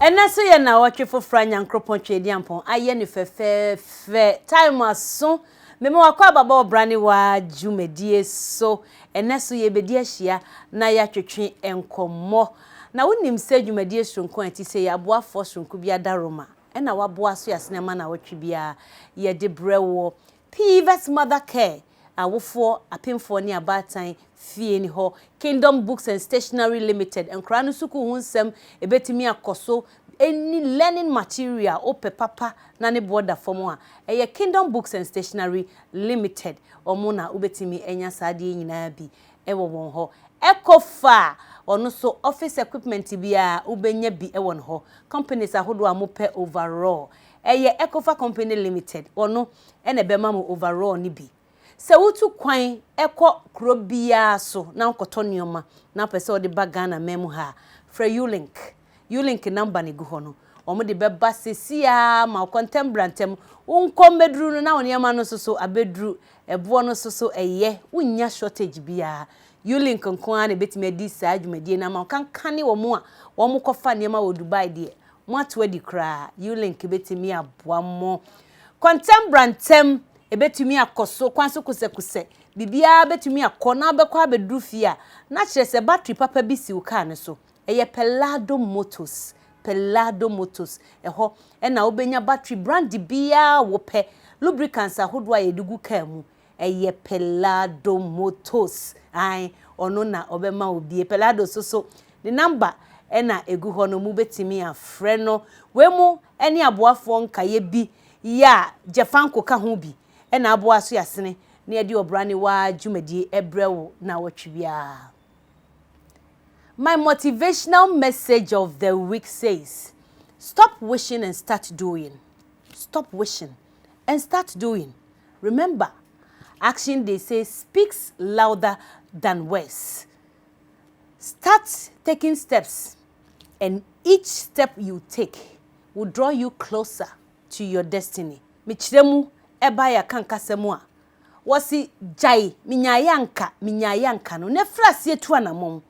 Ɛnɛ so yɛ nawɔtwe fofra Nyankropɔn Tweadiampɔn ayɛ no fɛfɛɛfɛ time aso mema wakɔ ababa ɔbra ne waa dwumadie so ɛnɛ so yɛbɛdi ahyia na yɛatwetwe nkɔmmɔ na wonim sɛ dwumadie soronko a ɛte sei aboafoɔ soronko bi adaroma ɛna waboa so yɛasene ama nawɔtwe biara yɛde brɛ woɔ Pivet Mother Care, Awofoɔ, Apemfoɔ ne Abaatan Fie ne hɔ, Kingdom Books and Stationery Limited, Nkwadaa no sukuu ho nsɛm ɛbɛtumi akɔ so ɛnni learning material a wopɛ papa na ne boɔ da fam a, ɛyɛ Kingdom Books and Stationery Limited, wɔn na wobɛtumi anya saa adeɛ yi nyinaa bi wɔ wɔn hɔ. Ecofa, wɔn nso office equipment biara wobɛnya bi wɔ wɔn hɔ, companies ahodoɔ a mopɛ overall ɛyɛ Ecofa Company Limited, ɔno na ɛbɛma mo overall no bi. Sɛ wotu kwan kɔ kuro biara so na wokɔtɔ nneɛma na wopɛ sɛ wode ba Ghana man mu ha a, frɛ U-Link. U-Link number no ɛgu hɔ no, wɔde bɛba seesei ara ma wo. Kɔ ntɛm bra ntɛm. Wonkɔ mmɛduru no na wo nneɛma no nso so abɛduru. Ɛboɔ no nso so ɛyɛ. Wonnya shortage biara. U-Link nko ara na ɛbɛtumi adi saa dwumadie no ama wo. Kankane wɔn a wɔkɔfa nneɛma wɔ Dubai deɛ, moato adi koraa. U-Link bɛtumi aboa mo. Kɔntɛm bra ntɛm, ɛbɛtumi akɔ so, kwan so kosɛkosɛ, biribiara bɛtumi akɔ na wobɛkɔ abɛduru fie a, na kyerɛ sɛ battery papa bi si wo kaa no so. Ɛyɛ Pellado Motors. Pellado Motors. Ɛhɔ na wobɛnya battery brande biara a wopɛ, lubricants ahodoɔ a yɛde gu kaa mu. Ɛyɛ Pelado Motos, ae, ɔno na ɔbɛma wo bie. Pelado so so, ne namba na ɛgu hɔ no, mobɛtumi afrɛ no. Wei mo ne aboafoɔ nkaeɛ bi yɛ a Jafanco ka ho bi na aboa Asoyasene na yɛde Ɔbra ne Waa dwumadie brɛ wo naawɔtwe biara. My motivational message of the week says, Stop wishing and start doing. Stop wishing and start doing remember action they say speaks louder than words start taking steps and each step you take will draw you closer to your destiny me kyerɛ mu ɛba yɛ aka nkasa mu a wɔsi gyae me nyaayɛ anka me nyaayɛ anka no na fira aseɛ tu anamɔn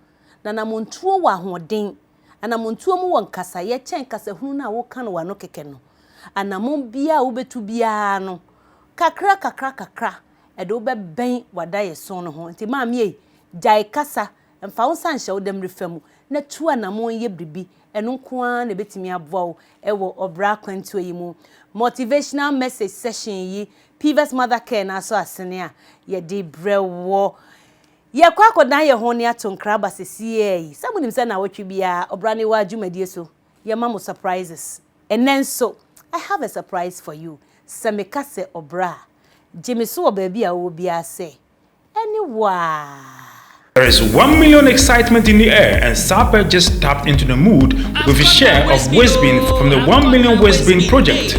na namɔntuo wɔ ahoɔden. Anammɔntuo mu wɔ nkasaeɛ kyɛn kasahunu no a woka no w'ano kɛkɛ no. Anammɔn biara a wobɛtu biara no, kakra kakra kakra, ɛde wo bɛbɛn w'adaeɛso no ho. Enti maame ei, gyae kasa, mfa wo nsa nhyɛ wo dɛmmerefa mu, na tu anammɔn yɛ biribi. Ɛno nko ara na ɛbɛtumi aboa wo wɔ ɔbra akwantuo yi mu. Motivational Message Session yi, Piva's Mother Care no ara so asene a yɛde brɛ woɔ. Yɛkɔ akɔdan yɛn ho ne ato nkra aba sesiea yi. Sɛ monim sɛ naawɔtwe biara ɔbra ne waa dwumadie so yɛma mo surprises. Ɛnɛ nso I have a surprise for you. Sɛ meka sɛ ɔbra a, gye me so wɔ baabi a wowɔ biara sɛ ɛne wo a. There is one million excitement in the air and Sapeh just tapped into the mood with his share of Wizbin from the one million Wizbin project.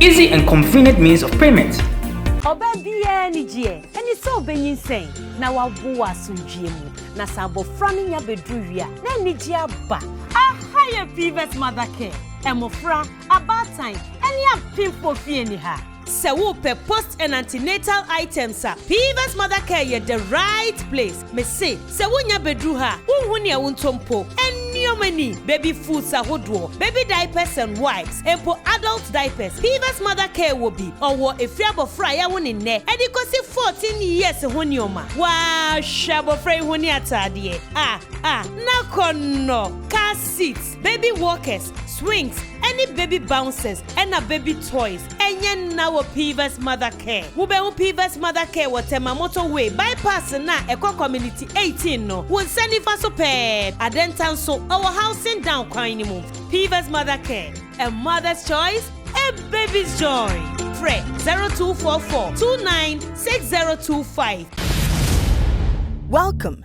Easy and convenient means of payment. Ɔbaa biara anigyeɛ ne sɛ ɔbɛnyinsɛn na wawo wɔ asomdwoeɛ mu, na sɛ abɔfra no nya bɛduru wie a, na anigyeɛ aba. Aha yɛ Fivers Mother Care, mmofra, abaatan, ne apemfo fie ne ha. Sɛ wopɛ post and antenatal items a, Fivers Mother Care yɛ the right place, mese. Sɛ wonya bɛduru ha a, wonhu nea wontɔ mpo. Nneɛma ni, baby foods ahodoɔ, baby diapers and wipes, mpo adult diapers. Piva's Mother Care wɔ bi. Ɔwɔ ɛfiri abɔfra a yɛawo ne nnɛ de kɔsi 14 years ho nneɛma. Waa! Hwɛ abɔfra yi ho ne ataadeɛ. Ah! Ah! N'akɔnnɔ! Car seat. Baby walkers, swings, ɛne baby bouncers ɛna baby toys. Ɛnyɛ nna wɔ Pivas Mother Care. Wobɛhu Pivas Mother Care wɔ Tema Motorway Bypass no a ɛkɔ Community 18 no, wo nsa nifa so pɛɛ. Adenta nso, ɔwɔ Housing Down kwan no mu. Pivas Mother Care, a mother's choice, a baby's joy. Frɛ 0244 29 6025. Welcome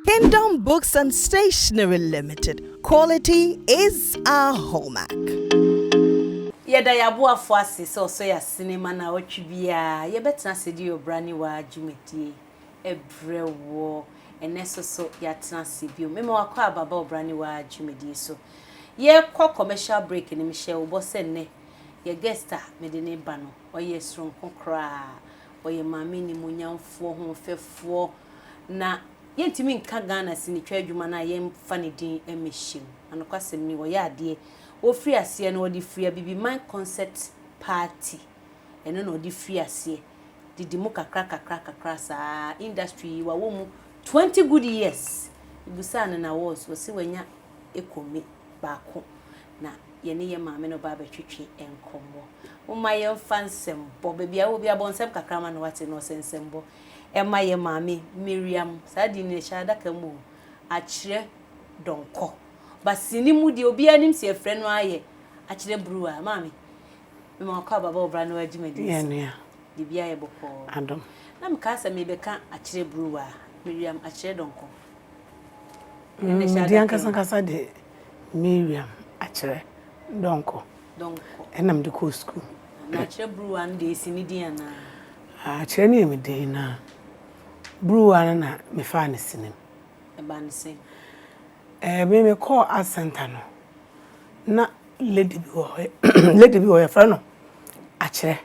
Kingdom Books and Stationery Limited, quality is our hallmark. Yɛda yɛn aboafo ase sɛ wɔsɔ yɛn asene ma naawɔtwe biara yɛbɛtena ase de Ɔbra ne Waa dwumadie brɛ wo. Ɛnnɛ nso so yɛatena ase bio mema wo akwaaba aba Ɔbra ne Waa dwumadie so. Yɛrekɔ commercial break no, mehyɛɛ wo bɔ sɛ nnɛ yɛn guest a mede no reba no, ɔyɛ soronko koraa. ɔyɛ maame nimuonyamfoɔ, hoɔfɛfoɔ, na yɛntumi nka Ghana sinitwa adwuma no a yɛmfa ne din mmɛhyɛ mu. Anokwasɛm ni, ɔyɛ adeɛ. Ɔfiri aseɛ no, ɔde firi Abibiman Concert Party, ɛno na ɔde firi aseɛ, de di mu kakra kakra kakra saa. Industry yi, wawɔ mu twenty good years. Mebisaa no n'awards, ɔse wanya Ekomi baako. na yɛne yɛn maame no ba abɛtwetwe nkɔmmɔ. Momma yɛmfa nsɛmbɔ, baabi a wowɔ bi abɔ nsɛm kakra ama no wate na ɔsɛ nsɛmbɔ ɛma yɛn maame Miriam. Saa din no ɛhyɛ adaka mu o, akyerɛ dɔnkɔ. Ba sini mu deɛ obiara nim sɛ yɛfrɛ no ara yɛ akyerɛ bruwa. Maame, mema wakɔ aba bɔ bra na wagye m'adi nso. Yɛnua. Biribiara yɛ bɔkɔɔ. Adom. Na mekaa sɛ mebɛka akyerɛ bruwa, Miriam akyerɛ dɔnkɔ. Ɛno na ɛhyɛ adaka mu. Medi ankasankasa deɛ. Miriam akyerɛ dɔnkɔ. Dɔnkɔ. Ɛna mede kɔɔ sukuu. Na akyerɛ buruwa no deɛ ɛsi ne din anaa? Akyerɛ no yɛ me din na buruwa no na mefaa no sinim. Ɛbaa no sɛn? Ɛɛ me mekɔɔ art center no na lady bi wɔ hɔ lady bi wɔ hɔ yɛfrɛ no akyerɛ.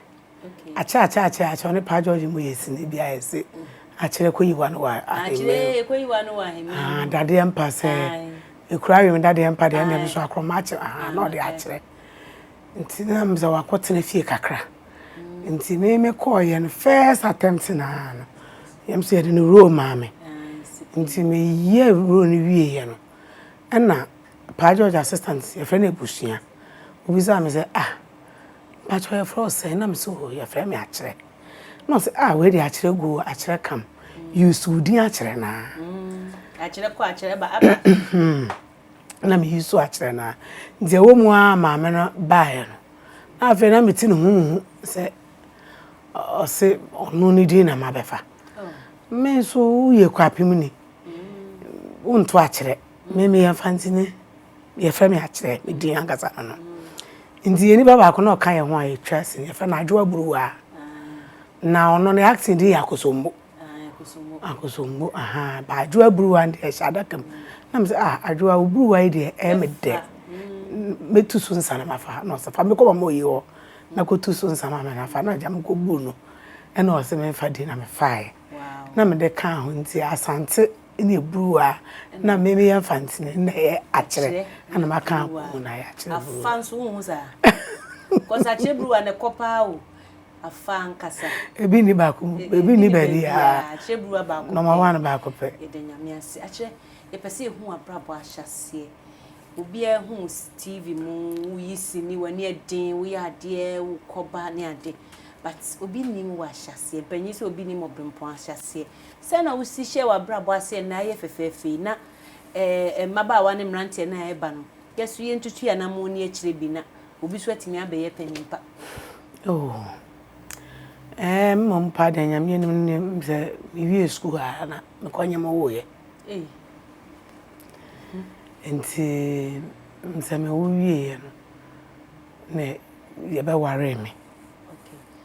Akyɛ akyɛ akyɛ akyɛ ɔne paa George mu yɛ sini bi ayɛ se akyerɛ kɔyiwa no wɔ ahemman mu. Kɔyiwa no wɔ ahemman mu. Ah, dadeɛ mpa sɛ ekura awim dadeɛ mpa deɛ ɛna bi so akorɔma akyɛ ah na ɔde akyerɛ. Nti na m sɛ wakɔ tena fie kakra. Nti me me kɔɔ yɛ no first attempt na no. Yɛm sɛ yɛde no role maa me. Nti me yɛ role no wie yɛ no. Ɛna paa George assistant yɛfrɛ no abusua. Obisa me sɛ ah Mpakyɛw yɛfrɛ wo sɛn? Na mese oh yɛfrɛ me Akyerɛ. Na ɔse ah wei deɛ Akyerɛ go o, Akyerɛ come, use wo din Akyerɛ no ara. Akyerɛ kɔ Akyerɛ ba aba. Na me use Akyerɛ no ara. Nti ɛwɔ mu ara maame no baeɛ no, na afei na mete ne ho nhu sɛ ɔse ɔno ne din na mabɛfa. Me nso woyɛ Kwapemni, wonto Akyerɛ. Me meyɛ Mfantsini, wɔfrɛ me Akyerɛ, me din ankasa no no. Ntsi yɛ nyimpa baako na ɔka hɛn ho a yetwa ase no, wɔfrɛ no Adwoa Buruwaa. Na ɔno ne acting din yɛ Akosombo. Akosombo, ahaa, but Adwoa Buruwaa no deɛ ɛhyɛ adaka mu. Na me sɛ, ah, Adwoa, wo Buruwaa yi deɛ ɛyɛ me dɛ. Mɛtu so nsa na mafa. Na ɔse, fa me kɔ Mama Oye hɔ na kɔtu so nsa ma me na fa. Na ɔgya me kɔbuu no, ɛnna ɔse memfa din na mefaae. Na mede kaa ho nti, Asantse. na eburuw a na me meyɛ mfa ntini na ɛyɛ akyerɛ na maka akɔn na ayɛ akyerɛ buruw afa nso wohu saa kɔs akyerɛ buruw a na ɛkɔ paa o afa nkasa ebi ni baako ebi ni baabi a akyerɛ buruw a baako nɔma wa no baako pɛ yɛda nyame ase akyerɛ yɛpɛ sɛ ehu abrabɔ ahyɛseɛ obiara hu tv mu woyi sini w'ani ɛden woyɛ adeɛ wokɔba ne ade but obi nim wɔ ahyɛseɛ banyin sɛ obi nim ɔbempɔn ahyɛseɛ Sɛ na wusi hyɛ w'abrabɔ ase ɛnnɛ ayɛ fɛfɛɛfɛ yi na eh, mmabaawa ne mmeranteɛ no a ɛreba no, yɛso yɛntutu yɛn anammɔn ni akyire bi na obi so atumi abɛyɛ panin pa. Oh, eh, mmom mpo deɛ Nyame anim no deɛ sɛ mewie sukuu a na mekɔ nyɛ mo woyɛ. Ei. Nti sɛ mewo wieɛ no na yɛbɛwaree me. Okay.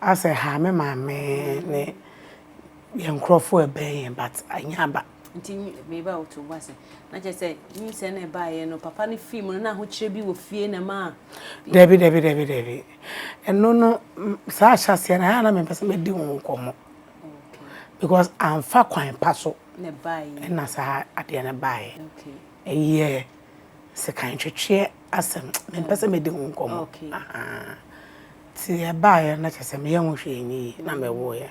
Asɛ ɛhaa me maame ne yɛn nkurɔfoɔ a ɛbɛn yɛn but ɛnyɛ aba. Nti meba a woto wo bo ase. Na kyerɛ sɛ nyinsɛn na ɛbaeɛ no papa no fii mu no na ahokyerɛ bi wɔ fie na ɛmaa. Dabi dabi dabi dabi. Ɛno no saa ahyɛaseɛ no ɛhaa na mempɛ sɛ mɛdi ho nkɔmmɔ because amfa kwan pa so na saa adeɛ no baeɛ. Ɛyɛ sekan twetweɛ asɛm mempɛ sɛ mɛdi ho nkɔmmɔ. Nti ɛbaeɛ na kyerɛ sɛ meyɛ ho hwee nyɛ yie na mewuiɛ.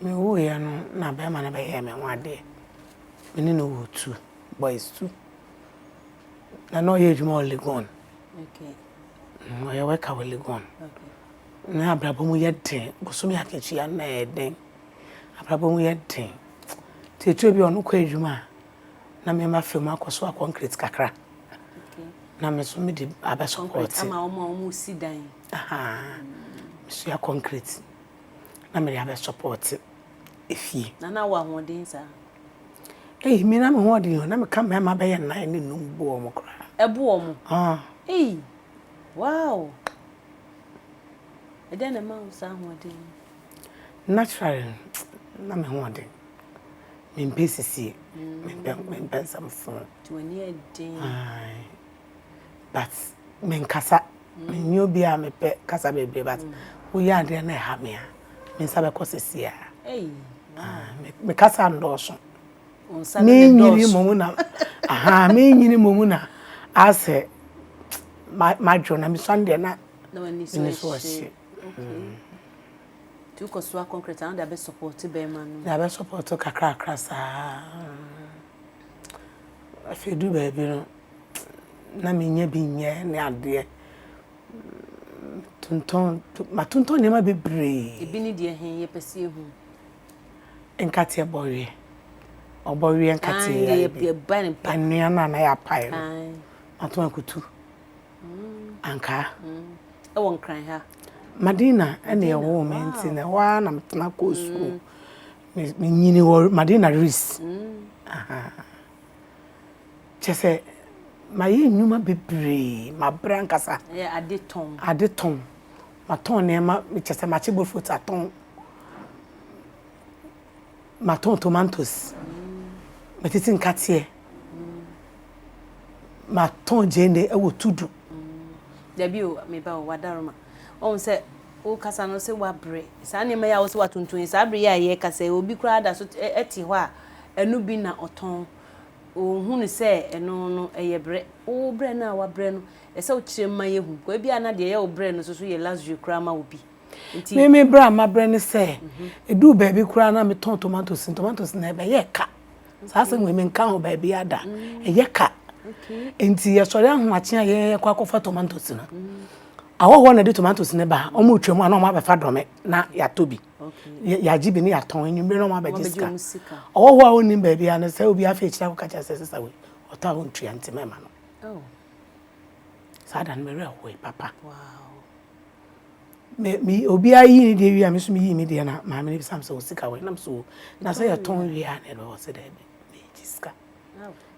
Mewuiɛ no na bɛrima no bɛyɛɛ me ho adeɛ. Me ne no woo two boys two. Na na ɔyɛ adwuma wɔ Legon. Ɔyɛ worker wɔ Legon. Na abrabɔ mu yɛ den. Bosome akatua no na ɛyɛ den. Abrabɔ mu yɛ den. Nti ɛtɔ bi a ɔno kɔ adwuma a, na me ma fam akɔ so akɔnkret kakra na me so mede abɛ support ama wɔn a wɔn si dan ahaa mesua concrete na mede abɛ support efie na na wɔ ahoɔden saa eyi me na me ho ɔden o na me ka mmarima bɛyɛ nnan ne num bu wɔn koraa ɛbu wɔn ah eyi wow ɛdɛn na ɛma wo saa ahoɔden naturally na me ho ɔden Mempɛ sisi, mempɛ mempɛ nsɛm fo. Nti w'ani yɛ den. Ae, but menkasa. Menni obi a mepɛ kasa bebree but woyɛ adeɛ na ɛha me a, me nsa bɛkɔ sisi a. Ei, wow. Me kasa ndɔɔso. Wo nsa no ne ndɔɔso. Menyini mmom na, aha, menyini mmom na asɛ madwo na mesɔn deɛ na. Na w'ani so ahye. nti wokɔ soa concrete a na wode abɛsupɔɔte bɛrima no. de abɛsupɔɔte kakrakra saa afei du baabi no na menyɛ bi nyɛ ne adeɛ tontɔn matontɔn nneɛma bebree ebi ne deɛ he yɛpɛ sɛ yɛhu nkateɛ bɔweɛ ɔbɔweɛ nkateɛ anwea no a na yɛapae no mato akutu Ankaa. Ɛwɔ nkran ha. Madina ɛna ɛwoo me nti na ɛhɔ ara na metena kɔɔ sukuu. Menyini wɔ Madina Ris. Kyɛ sɛ mayɛ nnwuma bebree, mabrɛ ankasa. Ɛyɛ ade tɔn. Ade tɔn. Matɔn nneɛma, kyɛ sɛ makye bofot atɔn. Matõ tomantos, matiti nkateɛ, matõ gyeene wɔ Tudu. Dabi o, me ba o, w'adaroma. Woahu sɛ wokasa no sɛ woabrɛ. Saa nneɛma yi a wo sɛ woatontɔn yi, saa bere yi a yɛrekasa yi, obi koraa da so te hɔ a, ɛno bi na ɔtɔn. Ɔnhu no sɛ ɛno no, ɛyɛ brɛ. Wo brɛ no a woabrɛ no, ɛsɛ sɛ wokyerɛ mu ma yɛhu. Ebia na deɛ ɛyɛ wo brɛ no nso so yɛ luxury koraa ma obi. Me me berɛ a mabrɛ ne sɛ ɛduu baabi koraa na metɔn tomatoes tomatoes na ɛbɛyɛ ka saa asɛm wei menka ho baabi ada ɛyɛ ka nti yɛsɔre ahomakye a yɛkɔ akɔfa tomatoes no ahɔhoɔ na ɛde tomatoes no ba wɔn retwa mu a na wɔn abɛfa dɔme na yɛatɔ bi yɛagye bi ne yɛatɔn anwummerɛ na wɔn abɛgye sika ɔhɔhoɔ a wɔnnim baabi a no sɛ obi afei kyerɛ akɔka kyerɛ sɛ sesa wei ɔtɔ a wɔntua nti mɛma no oh. saa da no mewerɛ hoe papa wow. Me me obiara yii ne deɛ wie a me nso meyii me deɛ na maame no bisa me sɛ wo sika wɔ he nam so na sɛ yɛtɔn wie a na ɛde wɔ sɛ daabi megye sika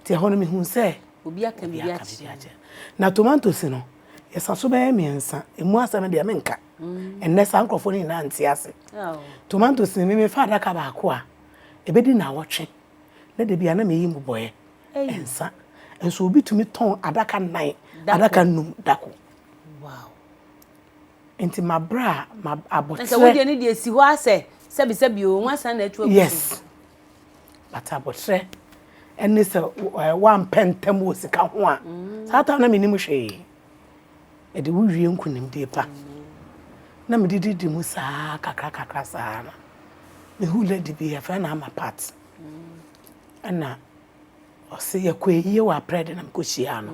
nti ɛhɔ no mehu sɛ obi aka biribi akyerɛ na tomatoes no yɛsa so bɛyɛ mmiɛnsa ɛmu asɛm deɛ menka ɛnnɛ saa nkurɔfoɔ no nyinaa nte ase tomatoes no meme fa adaka baako a ɛbɛdi na awɔtwe na da bia na meyi mu bɔɛ ɛnsa nso obi tumi tɔn adaka nnan adaka num dako Wow. Nti ma bra ma abotre. Nse wodi ani de si hɔ asɛ sɛbi sɛbi o nwansa na atu agu. Yes. But abotre ɛne sɛ wampɛ ntam wɔ sika ho a saa ta na menim hwee ɛde wo wie nkonimdie pa na mede didi mu saa kakra kakra saa no mehu lady bi yɛfrɛ no ama part ɛna ɔse yɛkɔ ayie wɔ aprɛ de na mekɔhyiaa no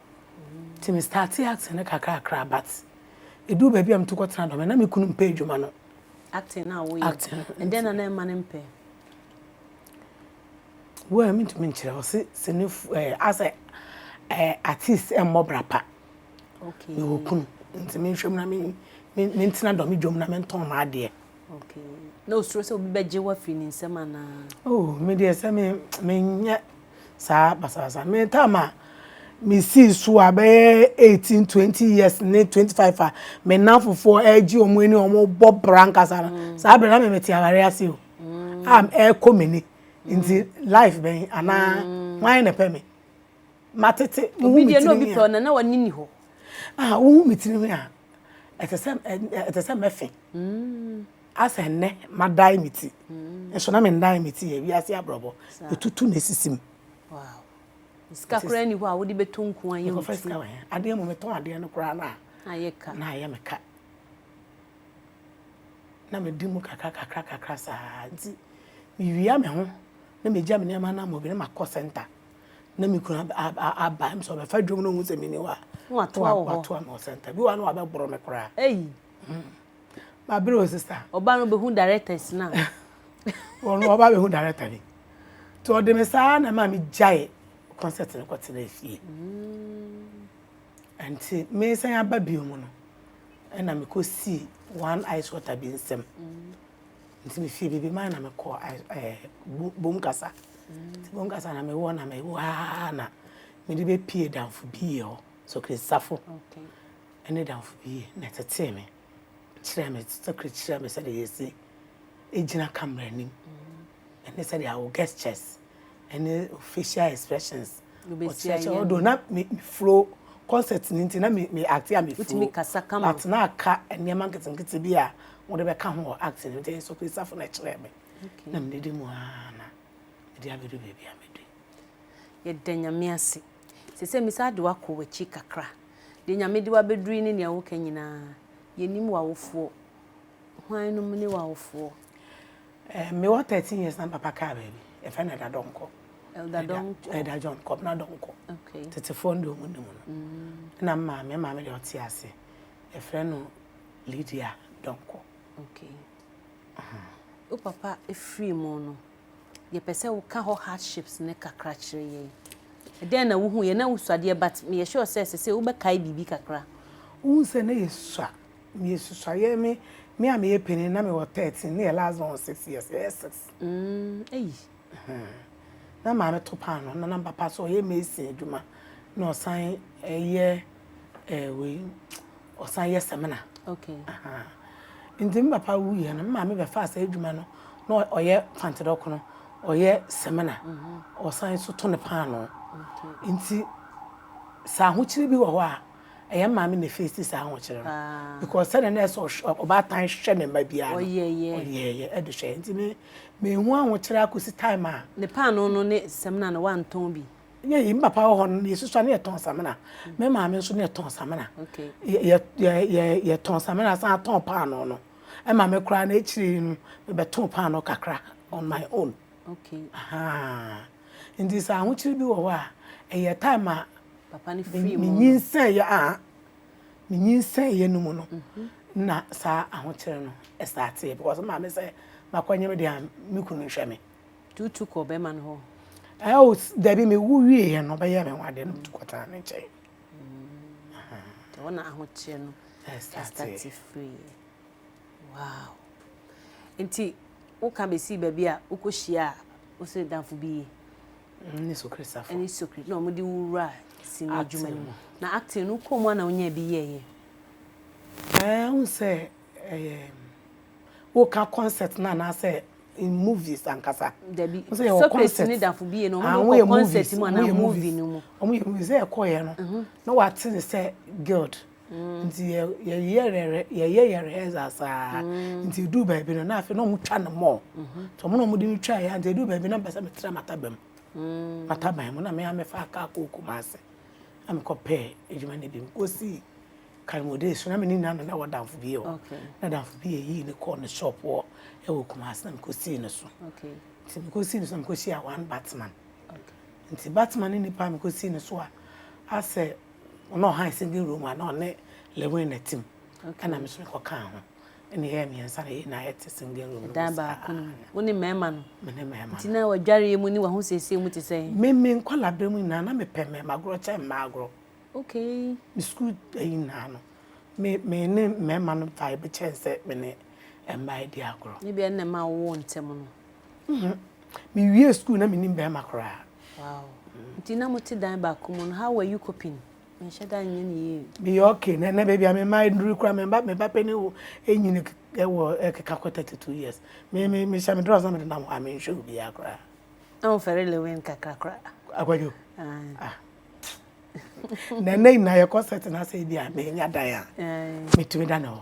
Nti me startee acting no kakrakra but eduu baabi a metu kɔ tena dɔm no na me kunu mpɛ adwuma no. Acting no a woyɛ. Acting no. Ɛdɛn na na ɛma no mpɛ? Well mentumi nkyerɛ ɔse sinifo ɛɛ eh, asɛ ɛɛ artist ɛmmɔ bra pa. Okay. Mewɔ kunu nti menhwɛ mu na me mentena dɔm dwom na mentɔn m'adeɛ. Okay. Na osuro sɛ obi bɛgye wo afiri ne nsam anaa? Oh, me deɛ sɛ me menyɛ saa basabasa. Me tam a mesii so a bɛyɛ 18 20 years ne 25 a me nnamfofoɔ ɛregye wɔn ani wɔn bɔ bra nkasa no mm. saa berɛ na me mete aware ase o mm. a ɛrekɔ m'ani nti life bɛn anaa mm. hwan na ɛpɛ me ma tete mo hu mi tiri nwi a na na wani ni hɔ ah wo hu mi tiri nwi a ɛte sɛ ɛte sɛ mɛfɛ mm. asɛ nnɛ ma dan mi ti mm. nso na mi dan mi ti yɛ wiase abrɔbɔ etutu na esisi mu. Wow. sika koraa ni hɔ a wode bɛtɔ nku ayɛ wo ti adeɛ mu metɔn adeɛ no koraa no a na ayɛ me ka na medi mu kakra kakra kakra saa nti mewia me ho na megya me nneɛma no amɔbi na makɔ sɛnta na me kunu aba m sɛ ɔbɛfa dwom no hu sɛ mene hɔ a na watoa wo hɔ watoa me hɔ sɛnta bi wɔ hɔ a na wabɛboro me koraa eyi hmm. mabere o sista ɔba no bɛhu directors no a ɔno ɔba bɛhu director bi nti ɔde me saa na ma megyae concert no kɔtena fie hmm. nti mesan aba bio mu no ɛna mekɔsii one ice water bi nsɛm hmm. Nti me fie biribi mae na me kɔɔ ɛɛ bom kasa nti bom kasa na me wɔ na me wɔ aa na me de bɛ pie danfo bi yɛ hɔ sokiri safo ɛne danfo bi yɛ na ɛtetee me kyerɛ me sokiri kyerɛ me sɛ de yɛ si egyina kamera nim ɛne sɛdeɛ awo gestures ɛne facial expressions ɔkyerɛkyerɛ ɔdo na me furo concert ne nti na me me act a me furo but na aka nneɛma nketenkete bi a wɔde bɛka ho wɔ act ne nti so krisafo na ɛkyerɛ me na me didi mu aa na ɛde abɛdu baabi a medu yɛda nyame ase sɛ sɛ me saa de wakɔ w'akyi kakra de nyame de wabɛduru yi ne nea woka nyinaa yɛnim w'awofoɔ hwan nom ne w'awofoɔ Ɛɛ me wɔ thirteen years na me papa kaa baabi yɛfrɛ no Ɛda Dɔnkɔ. Ɛda Dɔnkɔ. Ɛda John Kɔbena Dɔnkɔ. Okay. Tetefoɔ no deɛ wɔn nim no. Mm. Na maa me maame deɛ ɔte ase yɛfrɛ no Lydia Dɔnkɔ. Okay. Uh-huh. Wo papa efiri mu no yɛpɛ sɛ woka hɔ hardships ne kakra kyerɛ yɛn. Ɛdɛn na wohu yɛn na wosuadeɛ but meyɛ sure sɛ sɛ sɛ wobɛkae biribi kakra. Wohu sɛ na yɛsua Meyɛ susuayɛ me me a meyɛ panin na mewɔ thirteen ne yɛ last born wɔ six years yɛyɛ six. Mm, eyi. Na maame to paano na na papa so ɔyɛ mason adwuma na ɔsan ɛyɛ ɛɛ wei ɔsan yɛ sɛmina. Okay. Nti me papa wu yɛ no me maame bɛfa asa adwuma no na ɔyɛ pantedɔko no ɔyɛ sɛmina ɔsan so to ne paano. Nti sɛ ahokyere bi wɔ hɔ a. Ɛyɛ maame na efeesi saa ahokyere no because sɛdeɛ na ɛsɛ ɔhwɛ ɔbaatan hwɛ ne mma biara no ɔyɛɛyɛ ɔyɛɛyɛ ɛde hwɛ nti me mehu ahokyere akɔsi time a. ne paano no ne samina no wantɔn bi. yɛyi me papa wɔ hɔ no yɛsusua ne yɛtɔn samina me maame nso ne yɛtɔn samina yɛ yɛ yɛ yɛtɔn samina san tɔn paano no ɛma me koraa na akyire yi no mebɛtoo paano kakra on my own. Okay. Ahaa. Nti sɛ ahokyere bi wɔ hɔ a, ɛyɛ time a Papa no firi mu no. menyinsɛeɛ a menyinsɛeɛ no mu no mhm. na saa ahokyere no ɛstarteɛ because maa me sɛ makɔnyem deɛ a me kunu nhwɛ me tutu kɔ bɛrima no hɔ ɛwo dabi mewu wieɛ no ɔbɛyɛ me ho adeɛ no metu kɔtena ne nkyɛn ɛhɔ na ahokyere no ɛstate firiɛ Wow! Nti woka bɛsii baabi a wokɔhyia a wose damfo bi yi ne Sokristafo ɛne Sokri na wɔde wo wura sini adwuma no mu na acting no kɔɔ mu a na wonya bi yɛɛyɛ ɛɛ wo sɛ ɛyɛ woka concert no anaasɛ in movies ankasa dabi Sokris ne damfo bi yɛ no wɔde kɔ concert mu anaa movie no mu wɔyɛ movies sɛ ɛkɔɔyɛ no na wate ne sɛ guild nti yɛyɛyɛ rehearsal saa nti ɛduu baabi no na afei na ɔmo twa no mɔɔ nti ɔmo na ɔmo de no twa yɛ nti ɛduu baabi na mpɛ sɛ metra mataba mu mataban mu na me a mefa kaa kɔɔ Kumasi na mekɔ pɛɛ adwuma no bi mekɔ sii Kalmode so na me ne nua no na wɔ damfo bi yɛ hɔ na damfo bi yɛ yii ne kɔɔ ne shop hɔ ɛwɔ Kumasi na mekɔ sii ne so nti mekɔ sii ne so na mekɔ hyia one Batman nti Batman ne nipa a mekɔ sii ne so a asɛ Ɔno ɔhan singing room a na ɔne Lewin na ɛte mu ɛna me nso me kɔ kaa ho ɛna yɛyɛ mmiɛnsa na yɛn nyinaa yɛte singing room no mu saa. Ɛdan baako no mu. Wo ne mmarima no? Me ne mmarima no. Nti na w'adwareɛ mu ne w'ahosiesie mu te sɛn? Me me nkwadaa mu nyinaa na me pɛ mmarima agorɔ kyɛn mmaa agorɔ. Okay. Me sukuu ayi nyinaa no me me ne mmarima no vibe kyɛn sɛ me ne mmaa yi di agorɔ. Ebia ɛno na ɛma wowoo ntɛm no. Nhmm. Me wiee sukuu na me nim barima koraa. Wow. Nti na mo te dan baako mu no, how were you coping? Me nhyɛ da nyɛ ne yie. Me yɛ okay, na na baby a me ma nduru kura me ba me ba pɛ ne wo enyini ɛwɔ ɛkeka kɔ 32 years. Me me me hyɛ me dress na me de nam hɔ a me nhwɛ obi a kura. Na wo fɛre lewin kakra kura. Akwadwo. Ah. Na na nyinaa yɛ kɔ set na sɛ ebi a me nya dan a. Me tumi da ne hɔ.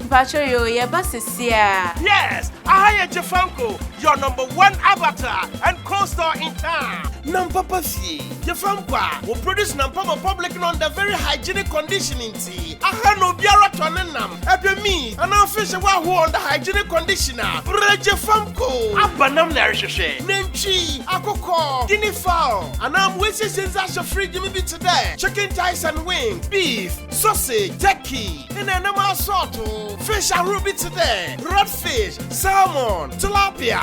Mpacho yoo yɛba sesiaa. Yes aha yɛ Jafanko your number one avatar and co store in town. Nampa ba fie Jafanko a wɔ produce Nampa ma public no under very hygienic condition nti aha na obiara tɔ ne nam, ɛdɛ meat anaa fish a wɔahoɔ under hygienic condition a bra Jafanko. Aba nam na ɛrehwehwɛ. Nantwi, akokɔ, guinea fowl anaa mmoa asiesie ndze ahyɛ fridge mu bi tse dɛ chicken thighs and wings, beef, sausage, turkey. na nam asɔɔto. Fish ahorow bi te dɛ redfish, salmon, tilapia,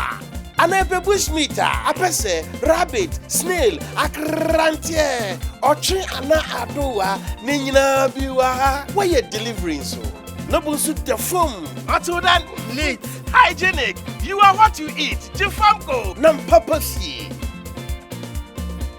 anaa ɛbɛ bushmeat a, apɛsɛ, rabbit, snail, akranteɛ, ɔtwe anaa adowa, ne nyinaa bi wɔ ha. Wɔyɛ delivery nso. Na bo nso da fam. Until then, neat, hygienic, you are what you eat, gye fam ko. Nam papa fie.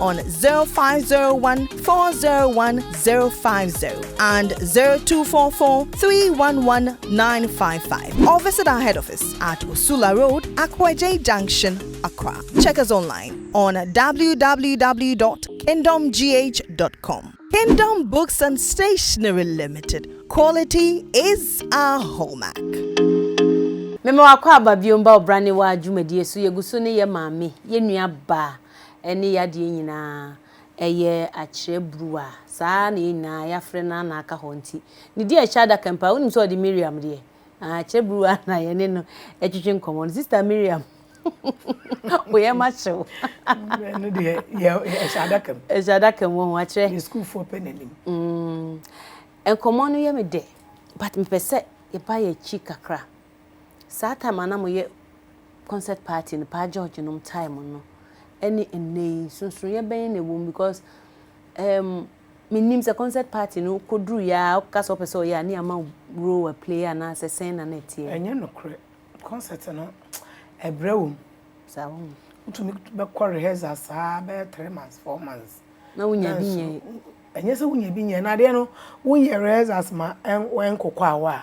on 0501401050 and 0244311955 or visit our head office at Usula Road, Akwaje Junction, Accra. Check us online on www.kingdomgh.com. Kingdom Books and Stationery Limited. Quality is our hallmark. Mema wakɔ aba biom ba ɔbrane wa dwumadie so yɛgu so ne yɛ maame yɛ nua baa ɛne yadeɛ nyinaa, ɛyɛ akyerɛ bruwa, saa ara na yɛn nyinaa yɛafrɛ no ara na aka hɔ nti, ne deɛ ɛhyɛ adaka mpo a, wonim sɛ ɔde Miriam deɛ, ah, akyerɛ bruwa na yɛne no ɛtwetwe nkɔmmɔ no, Sister Miriam, wo yam akyere wo. Ɛno deɛ, ɛhyɛ adaka mu. Ɛhyɛ adaka mu, ɔho akyerɛ. Ne sukuufoɔ pɛ n'anim. Mm, nkɔmmɔ no yɛ me dɛ, but mepɛ sɛ yɛba yɛn akyi kakra. Saa time a na mo yɛ concert party no paa George nom time no ɛne nnɛ yi nsonsonoeɛ bɛn na ɛwɔ mu because um, menim sɛ concert party no kɔduru yɛ a woka sɛ wopɛ sɛ ɔyɛ a ne ama role a play anaasɛ sɛn na na ɛteɛ ɛnyɛ nokorɛ concert no ɛbrɛ wɔ mu saa wɔ mu wotumi bɛkɔ rehearsal saa bɛyɛ three months four months na wonya bi nyɛ ɛnyɛ sɛ wonya bi nyɛ na adeɛ no woyɛ rehearsals ma ɛnkokɔ awɔ a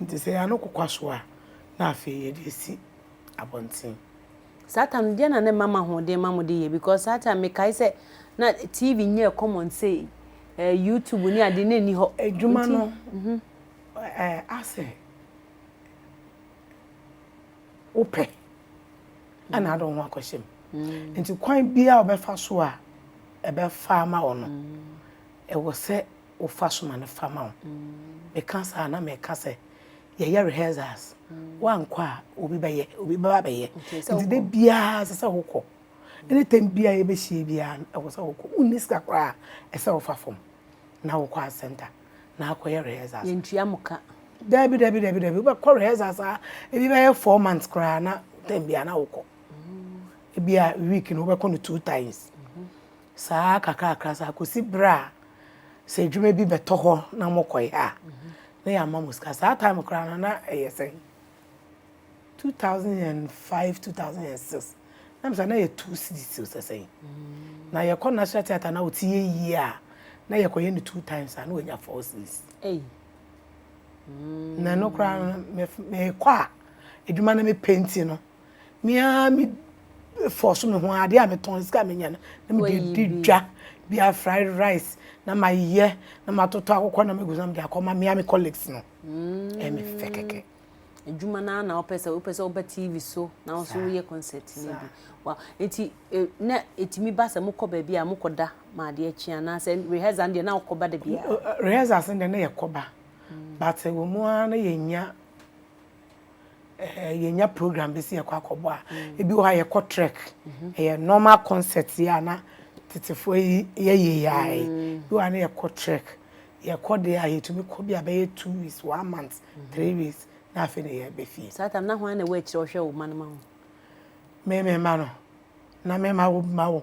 Enti sɛ yɛano kokwa so a, na afei yɛde asi abɔnten. Saa time no deɛ na ne mma mo ahoɔden ma mo de yɛ because saa time me kae sɛ na TV nyɛɛ common sɛ yi eh, YouTube ne ade na ɛni hɔ. Adwuma no eh, asɛ wopɛ ɛna ade ho akɔhyɛ mu. Mm. Nti kwan biara ɔbɛfa so a ɛbɛfa ama wɔ no ɛwɔ sɛ wofa so ma no fa ma wo. Meka saa a, na mereka sɛ yɛyɛ rehearsals, woankɔ a obi bɛyɛ, obi bɛba bɛyɛ. Nti da biara ɛsɛ sɛ wokɔ. Anytime biara yɛbɛhyia biara no, ɛwɔ sɛ wokɔ. Wonni sika koraa a, ɛsɛ sɛ wofa fam na wokɔ art center na akɔyɛ rehearsals. Yɛntua mo ka. Dabi, dabi, dabi, dabi. Wobɛkɔ rehearsals a ebi bɛyɛ four months koraa na term biara na wokɔ. Ebia week no wobɛkɔ no two times. Saa ara kakrakra saa kɔsi berɛ a sɛ adwuma bi bɛtɔ hɔ na mokɔyɛ a, na yɛama mo sika. Saa time koraa no, na ɛyɛ sɛn? 2005, 2006. Na misa na yɛ two cedis o sɛ sɛn. Na yɛkɔ National Theatre na ɔte yɛ yie a, na yɛkɔyɛ no two times a na wanya four cedis. Na ɛno koraa no, mekɔ a, adwuma no mepɛ nti no, me ara me fɔ so me ho adeɛ a metɔn sika a menya no na mede di dwa bia fried rice na mayɛ na matotɔ akokɔ na megu so na mede akɔma me ara me colleagues no mm. ɛyɛ me fɛ kɛkɛ adwuma no na wopɛ sɛ wopɛ sɛ woba tv so na wo so woyɛ concert no bi wow. nti e, na ɛtumi ba sɛ mokɔ baabi a mokɔda ma adeɛ akyi anaasɛ rehearsal deɛ na wokɔba da biara rehearsal sɛ deɛ na yɛkɔba mm. but wɔ mu ara na yɛnya Ɛhɛɛ yɛnya program bi sɛ yɛkɔ akɔbɔ a, ebi wɔ hɔ a yɛkɔ trek. Ɛyɛ normal concert yi a na tetefoɔ yi yɛyɛ yi ara yi. Ebi wɔ hɔ a na yɛkɔ trek. Yɛkɔ deɛ a, yɛtumi kɔ bi a bɛyɛ two weeks, one month, three weeks, na afei na yɛba fie. Saa tam no, na hwan na ɛwɔ akyire a ɔhwɛ wo mma no ma wo? Me me mma no, na me ma wo mma wo.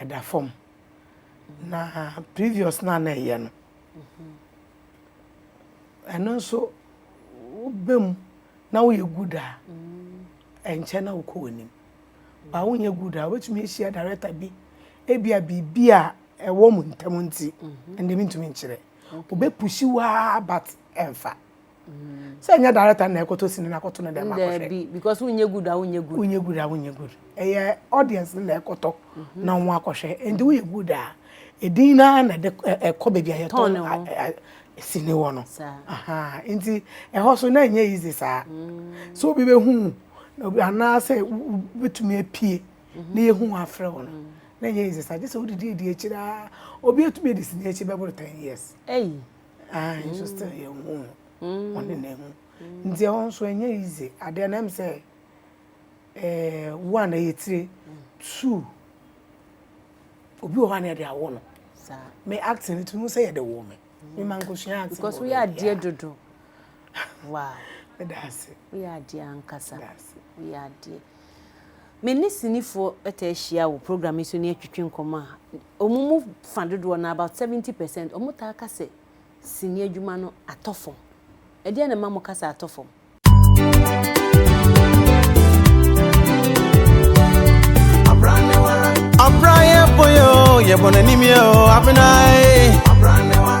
ɛda fam na previous no a na ɛyɛ no ɛno nso woba mu na woyɛ good a ɛnkyɛ na wokɔ w'anim ba wonyɛ good a wobɛtumi ahyia director bi ebia biribi a ɛwɔ mu ntam nti ɛnde mentumi nkyerɛ wobɛpusi waa but ɛmfa sɛ nyɛ director na ɛkɔtɔ sini na akɔto no dɛ ma kɔhwɛ bi because wonyɛ good a wonyɛ good wonyɛ good a wonyɛ good ɛyɛ audience na ɛkɔtɔ mhm. na wɔn akɔhwɛ nti woyɛ good a edin na na ɛde ɛkɔ baabi a yɛtɔ sini wɔ no nti ɛhɔ so na ɛnyɛ easy saa mm. so obi bɛhu anaasɛ wobɛtumi apue mhm. na yɛhu afrɛ wɔ no mm. na ɛnyɛ easy saa gye sɛ wodidi adi akyiri a obi atumi adi sini akyi bɛboro ten years Ae nso still yɛnhu no. Ɔne na ehu. Nti ɛhɔ nso ɛnyɛ easy. Adeɛ no ɛm sɛ eh, one ɛyɛ tire. Two, obi wɔ hɔ a na yɛde awo no. Me acting no tumi sɛ yɛde wo me. Me ma nkosua acting. Because woyɛ adeɛ dodo. Wow. Ɛda ase. Woyɛ adeɛ ankasa. Ɛda ase. Woyɛ adeɛ. Me ne sinifoɔ taa hyia wɔ program yi so ne atwitwi nkɔmmɔ a, wɔn mu fa dodoɔ no ara, about seventy percent, wɔtaa ka sɛ sini adwuma no atɔ fam. Ɛdeɛn na ɛma moka sɛ atɔ fam? Abra yɛ boyo, yɛ bɔnɛ ni mi o, abena e.